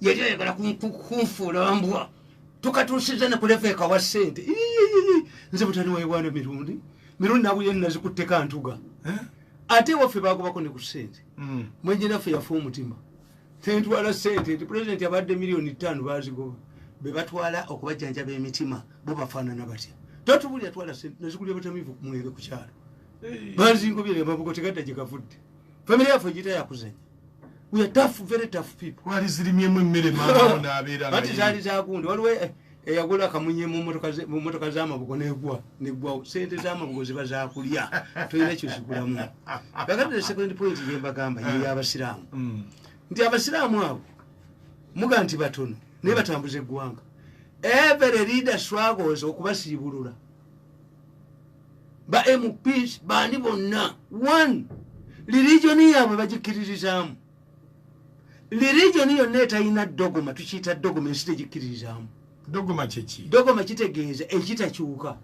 yali ayagala kunfuula mbwa tukatuusiza ne kuleva ekawa ssente nze butani wayiwaana mirundi mirundi nawe ye nazikutteko antuga eh? ate waffe bagobako ne ku ssente hmm. mwenjenaffe yafa omutima tentwala ssente nti pulezidenti abadde miliyoni ttaano bazigoba be batwala okubajjanjaba emitima bo bafaanana batya totubuli atwala ssente nazikulira batamivu kumwere ku kyalo bazingobyere amabugo tegadda gye gavudde famire yaffe gita yakuzanya we are tough very tough people wali zilimye mu mere mama na abira bati zali za kundi waliwe eh, eyagula eh, kamunye mu motoka mu motoka za mabugo ne gwa ne gwa sente za mabugo ziba za kulya to ile kyo sikula mu bagati the second point ye bagamba ye ya basilamu mm. ndi abasilamu abo muganti batono ne batambuze gwanga every leader struggles okubasibulula ba mps bandi bonna one lirigioni yaabwe bagikiririzaamu lirigioni yonna etalina dogoma tukiyita dogoma ensi tegikiririzaamu dogoma kyeki dogoma kitegeeza ekitakyuka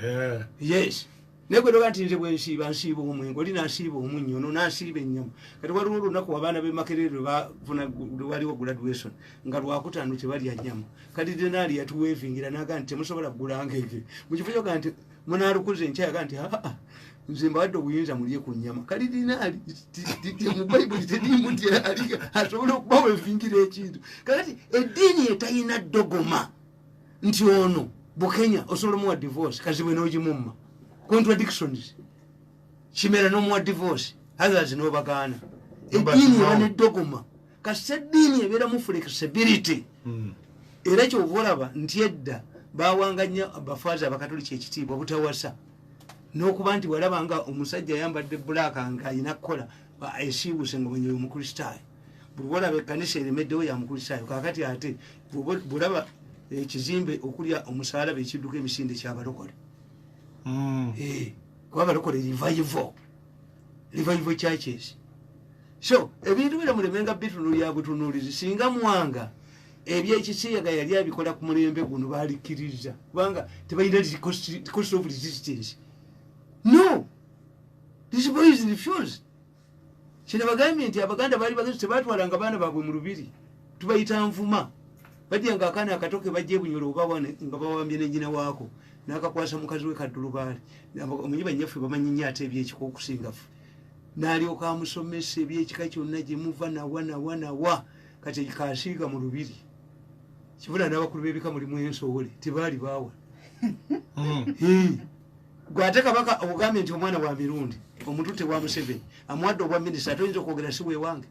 eh. yes naye gwe doga nti nze bwensiiba nsiiba omwenge oli nasiiba omunnyo ono nasiiba ennyama kati waliwo olunaku abaana bemakerere lwebafuna lwewaliwo graduation nga lwakutaano tebalya nyama kati denaali yatuwevingira naga nti temusobola kugulanga ege mukifo kyoga nti munalukuza enkya yaga nti aa nze mbadde obuyinza mulye ku nyama kati dinaali mubayibuli tediimu nti asobola okuba wevingira ekintu kakati eddiini etayina dogoma nti ono bukenya osobola omuwa divorce kazibwe nogimumma contradictions kimera nomuwa divorce others nobagaana eddiini eba nedogoma kasita eddiini ebeeramu flexibility hmm. era kyova olaba nti edda bawanga nnyo abafaazi abakatoliki ekitiibwa obutawasa n'okuba nti walaba nga omusajja ayambadde bulaaka nga alina kukola esiibuse nga bwenyeyo omukristaayo bwolaba ekkanisa eremeddewo ya mukristaayo kakati ate bwolaba ekizimbe okulya omusalaba ekidduka emisinde kyabalokole hmm. eh, kuba balokole rivayivo revival churches so ebintu bino mulemenga bitunulya butunulizi singa mwanga ebyekisiyaga yali abikola ku mulembe guno balikiriza kubanga tebalina cost of resistance no this boy is refused kino bagambye nti abaganda baali bagezi tebatwalanga baana baabwe mu lubiri tubayita nvuma bajja nga akaana akato ke bajja ebunyolo oba wana nga bawambye ne nyina waako n'akakwasa mukazi we kaddulubaale omanyi bannyaffe bamanyi nnyo ate ebyekika okusingafe n'alyoka amusomesa ebyekika kyonna gye muva nawa nawa nawa kati kasiiga mu lubiri kibula n'abakulu b'ebika mulimu ensowole tebaali baawa hmm. Hmm. gwe ate kabaka ogambye nti omwana wa mirundi omutute wa museveni amuwadde obwa minisita ate oyinza okwogera si wewange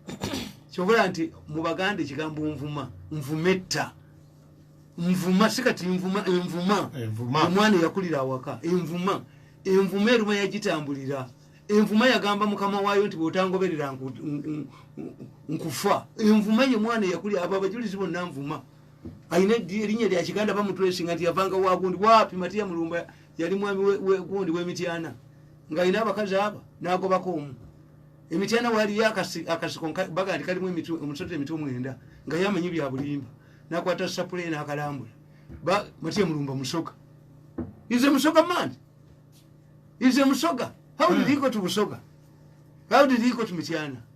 kyobola nti mu baganda ekigambo nvuma nvuma etta nvuma si kati nvuma envuma omwana eyakulira awaka envuma envuma eruma yagitambulira envuma yagamba mukama waayo nti bwotangoberera nkufa envuma ye mwana eyakulira abo abajulizi bonna nvuma alina erinnya lyakiganda bamutwesinga nti yavanga wagundi wapi matiya mulumba yali mwami wekundi wemityana nga ina abakazi aba nagobako omu emityana waliyo akasiko baga nti kalimu omusota emitwe omwenda nga yamanyi byabulimba nakwata sapule nakalambula mati emulumba musoga ize musoga man ize musoga how did he go to musoga how did he go to mityana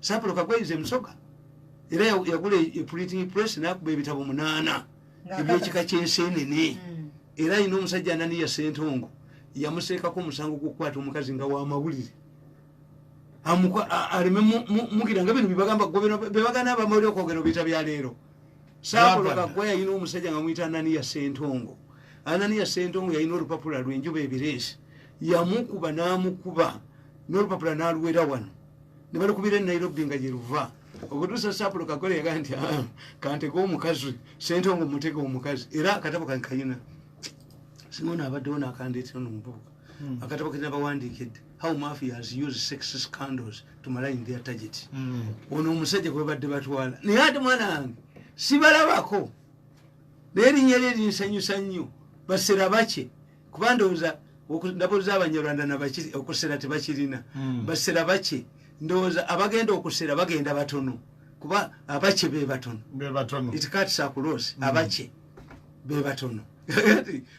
sapulo kagwaize musoga era yagula eprinting press nakuba ebitabo munaana ebyekika kyensenene hmm. era alina omusajja ananiya sentongo yamuseekako omusango gwokukwata omukazi nga wamawulire aleme mugira nga bino bibagamba bebagana abamawulire okwogera obiita byaleero sapulo kagwa yalina omusajja nga muyita ananiya sentongo ananiya sentongo yalina olupapula lwenjuba ebireesi yamukuba namukuba nolupapula naluwera wano ne balukubira e nairobi nga gye luva okutuusa sapulo kakole yaga nti ah, kanteka omukazi sente ongo muteka omukazi era akatabo kankayina simona abaddewo nakandeetera no mubuuka hmm. akatabo kena bawandiikidde how mafias use sex scandals to malign their target hmm. ono omusajja kwebadde batwala naye ate mwana wange sibalabako naye erinya lye linsanyusa nnyo basera bakye kuba ndowooza ndabooza abanyarwanda nabakiri okusera tebakirina hmm. basera baki ndowooza abagenda okusera bagenda batono kuba abaki bebatono itikatisa kuloosi hmm. abaki bebatono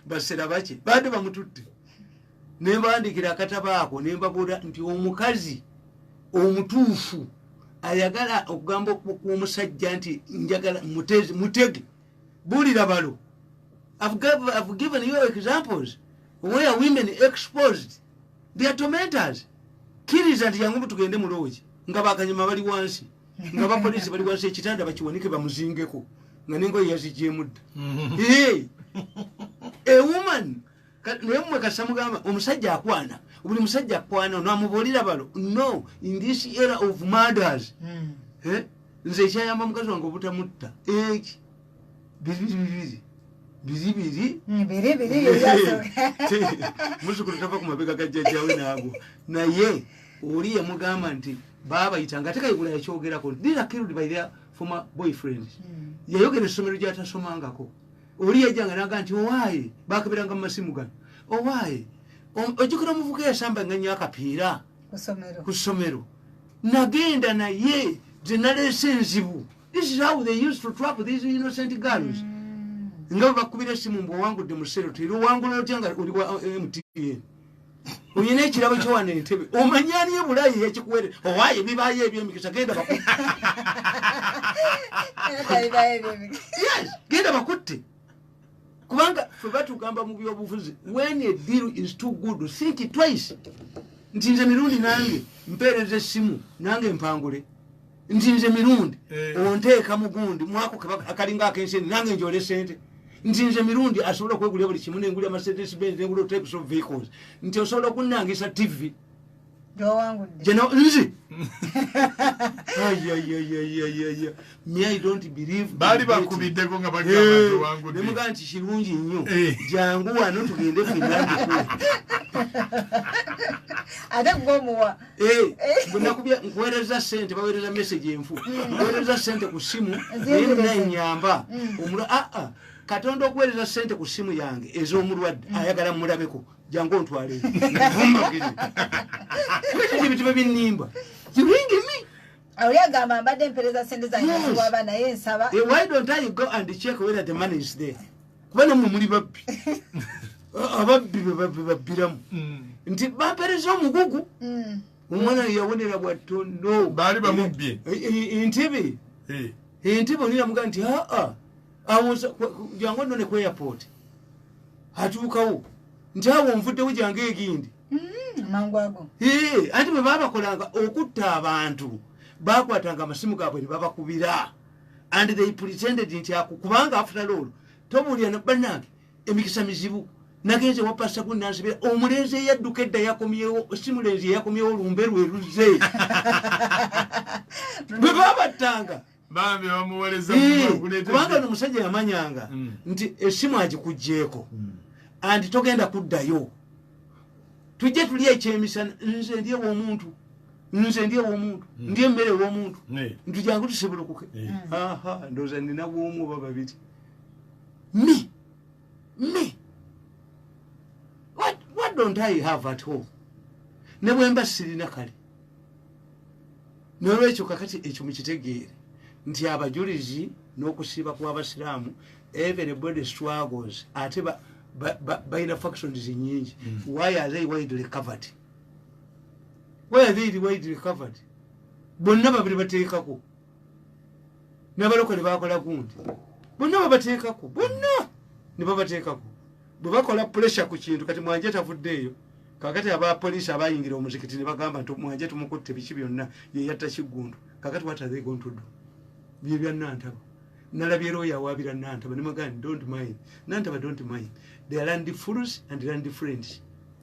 basera baki bandi bamututte nembandikira akatabaako nembabuula nti omukazi omutuufu ayagala okugamba okuba omusajja nti njagala mutege bulira balo I've, gave, I've given you examples where women exposed their tormentors kiriza nti yangu tugende mu loogi nga bakanyama bali wansi nga bapoliisi bali wansi ekitanda bakiwanike bamuzingeko nga nengoye yazigyemudda mm-hmm. a woman naye mwe kasita mugamba omusajja akwana buli musajja akwana namubuulira balo no in this era of murders hmm. eh? nze ekyayamba mukazi wange obutamutta eki bibiribiri biribiri hmm, muzukulu tava ku mabega ga jjajjawe naabwo naye oli yamugamba nti baabayita nga tekayigula yakyogerako dira killed by their former boyfriends hmm. yayogera essomero gyatasomangako oli yajjanga naga nti owaaye bakabiranga mu masimu gano owaaye ojjukira omuvuka eyasamba nga nnyo akapiira ku ssomero nagenda naye ze naleese enzibu this is how they used to trap these innocent girls mm. nga bwebakubira esimu mbu owangudde mu sero teri owangula otya nga oli wa mtn oyina ekirabo kyowana entebe omanyi ani ebulayi yekikuwere owaye bibayo ebyemikisa genda genda bakutte kubanga fe batugamba mu byobufuzi wen a deal is too good think twice nti nze mirundi nange mpeereza essimu nange mpangule nti nze mirundi eh. onteeka mugundi mwako akalinga akensi nange njole sente nti nze mirundi asobola okwegulira buli kimu nengulira mercedes benz nengulira types of vehicles nti osobola okunnangisa tv jeno nzi baali bakubiddeko nga bagamugamba eh, nti kirungi nnyo eh. jangu wano tugende finandikulu ate gwomuwa Eh, eh. nkuwereza sente bawereza message enfu mm. nkuwereza sente ku simu naye nanyamba mm. omula aa ah, ah. katonda okuwereza sente ku simu yange ez'omulwadde mm. ayagala mulabeko jangu ontwale ebituma binimba ziringimi oyagamba mbadde mpereza sente zange ziwaba naye nsaba eh, why don't i go and check whether the money is there kuba namwe muli babbi ababbi bebabbiramu mm. nti bapereza omugugu mm. omwana yawonera bwattondo baali bamubbye e, e, e, entebe entebe oniramuga nti aa jangu nno ne ku airport atuukawo nti awo nvuddewo jangu egindi mm, anti bwe babakolanga okutta abantu bakwatanga amasimu gaabwe ne babakubira and they pretended nti ako kubanga after all tomuwulira banange emikisa mizibu nagenze wapasa ku nansibira omulenzi eyadduka edda yakomyewo si mulenzi eyakomyewo lumbe lwe luze bwe babattanga kubanga no musajja yamanyanga mm. nti esimu agikugyeko mm. and togenda kuddayo tujje tuli ekyemisana nze ndyewo omuntu nze ndi ewomuntu hmm. ndi emmere ewomuntu nti jangu tusibulukuke hmm. ndooza nina bwomu oba babiri me me what, what don't i have at home ne bwemba sirina kale nolwekyo kakati ekyo mukitegeere nti abajulizi n'okusiiba kw'abasiraamu even body struggles ate balina factions nyingi hmm. why are they widely covered where they widely covered bonna babiri bateekako nabalokole bakola gundi bonna babateekako bonna nebabateekako bwebakola pressure ku kintu kati mwanje tavuddeeyo kakati aba police abayingira omuzikiti nebagamba nti mwanje tumukutte biki byonna yeyatta kiggundu kakati what are they going to do bye bya nantaba nalabye looya awaabira nantaba nemagani don't mind nantaba don't mind they are land fools and land friends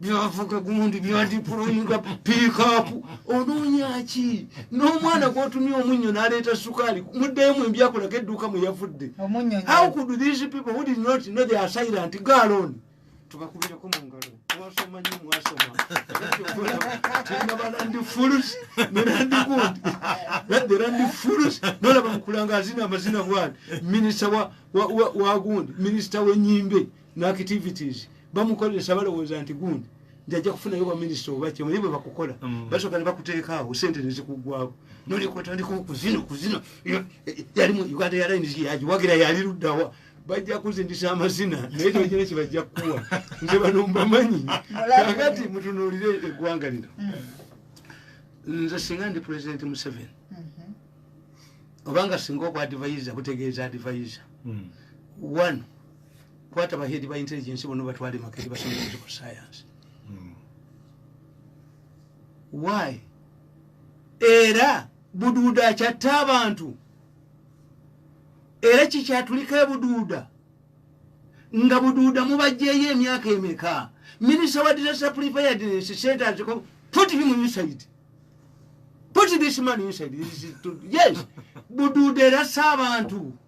byavuga gundi byandipulumga piikaapu onoonyaki n'omwana gwotumye omunnyo n'aleeta sukaali muddeyo mu mbyakulako edduuka mwe yavudde how could these people who did not know they are silent galooni tubakubireko mu ngalo mwasoma nyo mwasoma tinabala ndi fulus nera ndi gundi nadera ndi fulus nolaba mukulanga azina amazina gwani minisita wa gundi minisita w'enyimbe n'activities bamukozesa balowooza nti gundi nti ajja kufunayo baminisita oba kyemu naye bwe bakukola mm. basooka ne bakuteekaawo sente ne zikuggwako noleka otandika okuzina okuzina yalimu uganda yalainisi yagiwagira yali luddawa bajja kuzindisa amazina naye tokina kye bajja kukuwa nze bano mbamanyi kakati mutunuulire eggwanga lino mm. nze singa ndi pulezidenti museveni mm-hmm. obanga singa okwadivaiza kutegeeza adivaiza mm. one kwata bahedi ba intelligence bono batwale makeri basomesa ku science hmm. why era buduuda akyatta abantu era kikyatulika ebuduuda nga buduuda mubajjeeyo emyaka emeka minisita wa disaster preparedness centers put him inside put this man inside yes buduuda erasa abantu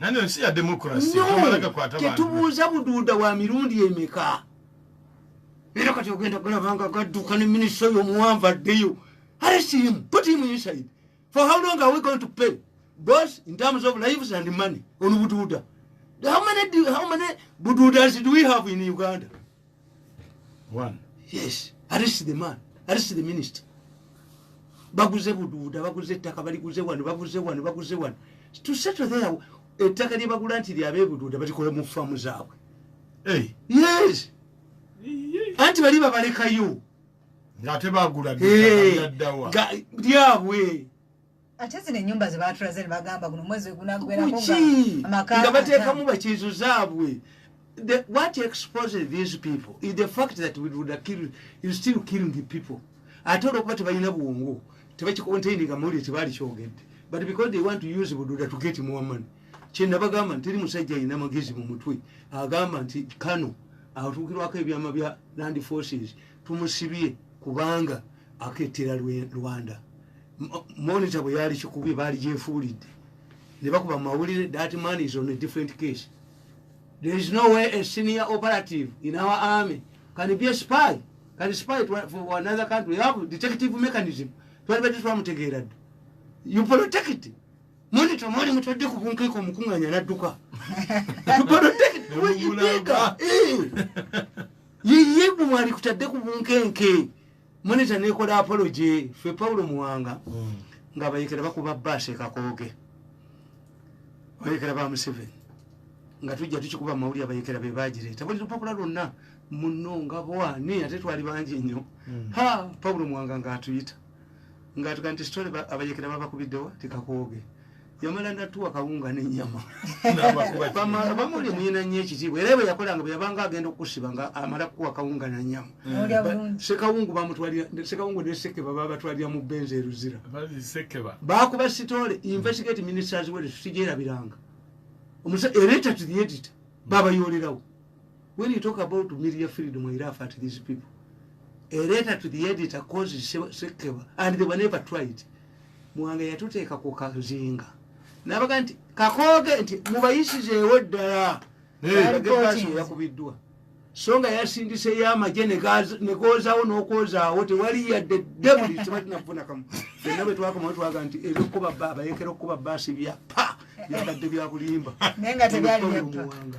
nano ensi ya demokrasi tetubuuza buduuda wa mirundi emeka era kati ogenda kulabanga gadduka ne minisita oyo omuwanvu addeyo arestimu put him inside for how long are we going to pay both in terms of lives and money on buduuda how many, how many buduudas do we have in uganda yes arrest the man arrest the minister baguze buduuda baguze ettaka baliguze wano baguze wano baguze wano to settle there ettaka lyebagula nti lyabebuduuda balikola mu faamu zaabwe yes anti bali babalekayo ngaate bagula lyabwe ate zino enyumba zebatulaze nebagamba guno mwezi wegunaggwerakonga bateekamu bakiizo zaabwe the what exposes these people is the fact that we would kill you still killing the people ate olwokuba tebalina bwongo tebakicontaininga mawulire tebaali kyogedde but because they want to use bududa to get more money kyenabagamba nti teri musajja alina magezi mu mutwe agamba nti kano atuukirwako ebyama bya land forces tumusibye kubanga aketera rwanda monitor bwe yali kikubi baali gyefuulidde ne bakuba mu mawulire that man is on a different case there is no way a senior operative in our army can be a spy can spy for another country we have detective mechanism twali badde twamutegeera dda you protect monitor mwali mutadde ku bunkeeko omukunganya nadduka you protect weyibika eh. yeyebwe mwali kutadde ku bunkenke monitor nekola apology fe paulo muwanga mm. nga bayekera bakuba base kakoge bayekera ba museveni nga tujja tukikuba mawulire abayekera be bagireeta buli lupapula lwonna muno nga bwani ate twali bangi nnyo mm. ha paulo muwanga ngaatuyita ngaatuga nti sitole abayekera babakubiddewa tikakoge yamala natuwa kawunga nenyama bamuli muyina nyo ekitiibwa era bwe yakolanga bwe yabanga agenda okusiba nga amala kuwa kawunga nanyama mm. sekawungu bamutwalira sekawungu neseke baba batwalira mu benzi eruzira bakuba sitole investigate ministers were sijerabiranga omusa ereta to the editor babayoolerawo when you talk about media freedom i laugh at these people a letter to the editor causes sekeba and they were never tried mwanga yatuteeka ku kazinga nabaga nti kakooge nti mubayisizeewo ddala yakubiddwa so nga yasindiseyo amagye negoozawo n'okwozaawo tewali yadde debuli tebalinakufunakamu byonna bwe twakomawo twaga nti ebyokukuba bayekera okukuba baasi byapa byabadde byakulimba naye nga tebyalimuwanga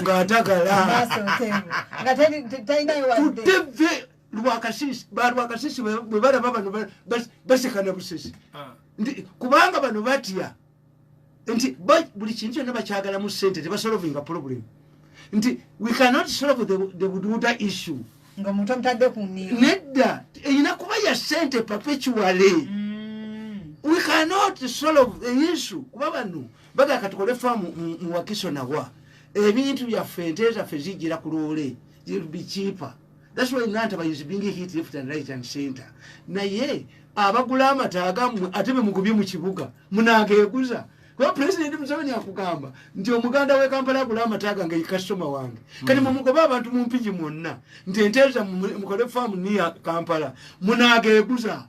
ngaatagalateve lwakasisi balwakasisi bwebalaba bano basekana busesi ah. nti kubanga bano batya nti buli kintu kyonna bakyagalamu sente tebasolovinga problem nti we cannot solve the, the bududa issue nga muntu amutadde ku nniyo nedda erina kuba ya sente perpetuale mm. we cannot solve the issue kuba bano baga katukole famu muwakiso nawa ebintu byaffe ente zaffe zijira ku loole will be cheaper that's why nantaba is being hit left and right and center naye abagula amata agammwe ate be mugubye mu kibuga munageeguza kuba pulezidenti museveni akugamba nti omuganda we kampala agula amata gange kasitoma wange kati mumugoba abantu mu mpigi mwonna nti enteeza mukole faamu niya kampala munageeguza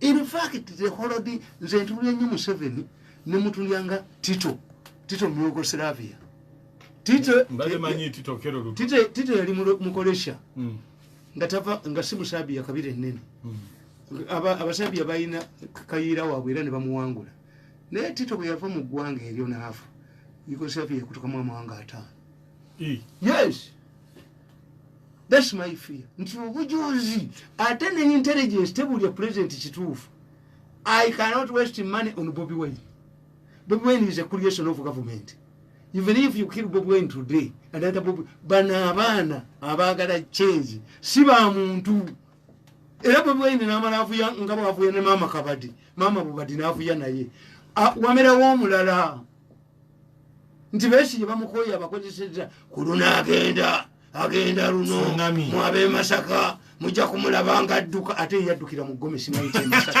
in fact the holodi nze ntulira nnyo museveni ne mutulya nga tito tito myugoslavia tito yali mukolesha hmm. nga tava nga si musabia kabira enene hmm. abasabia balina kayiira waabwe era ne bamuwangula naye tito bwe yava mu ggwanga eryo naafa yugoslavia yakutukamu amawanga ataano yes That's my fear. Nti obujuzi ate ne intelligence tebuli ya president kituufu. I cannot waste money on Bobby Wine. Bobby Wine is a creation of government. Even if you kill Bobby Wine today, and that Bobby, bana abana, abagala change, si ba muntu. Era Bobby Wine na mara afuya, ngabo afuya na mama kabadi. Mama bubadi na afuya na ye. A, wamera wamulala. nti besige bamukoye abakozeseza kuluna agenda agenda luno mwabe masaka mujja kumulaba nga adduka ate yaddukira mu gomesi mayite masaka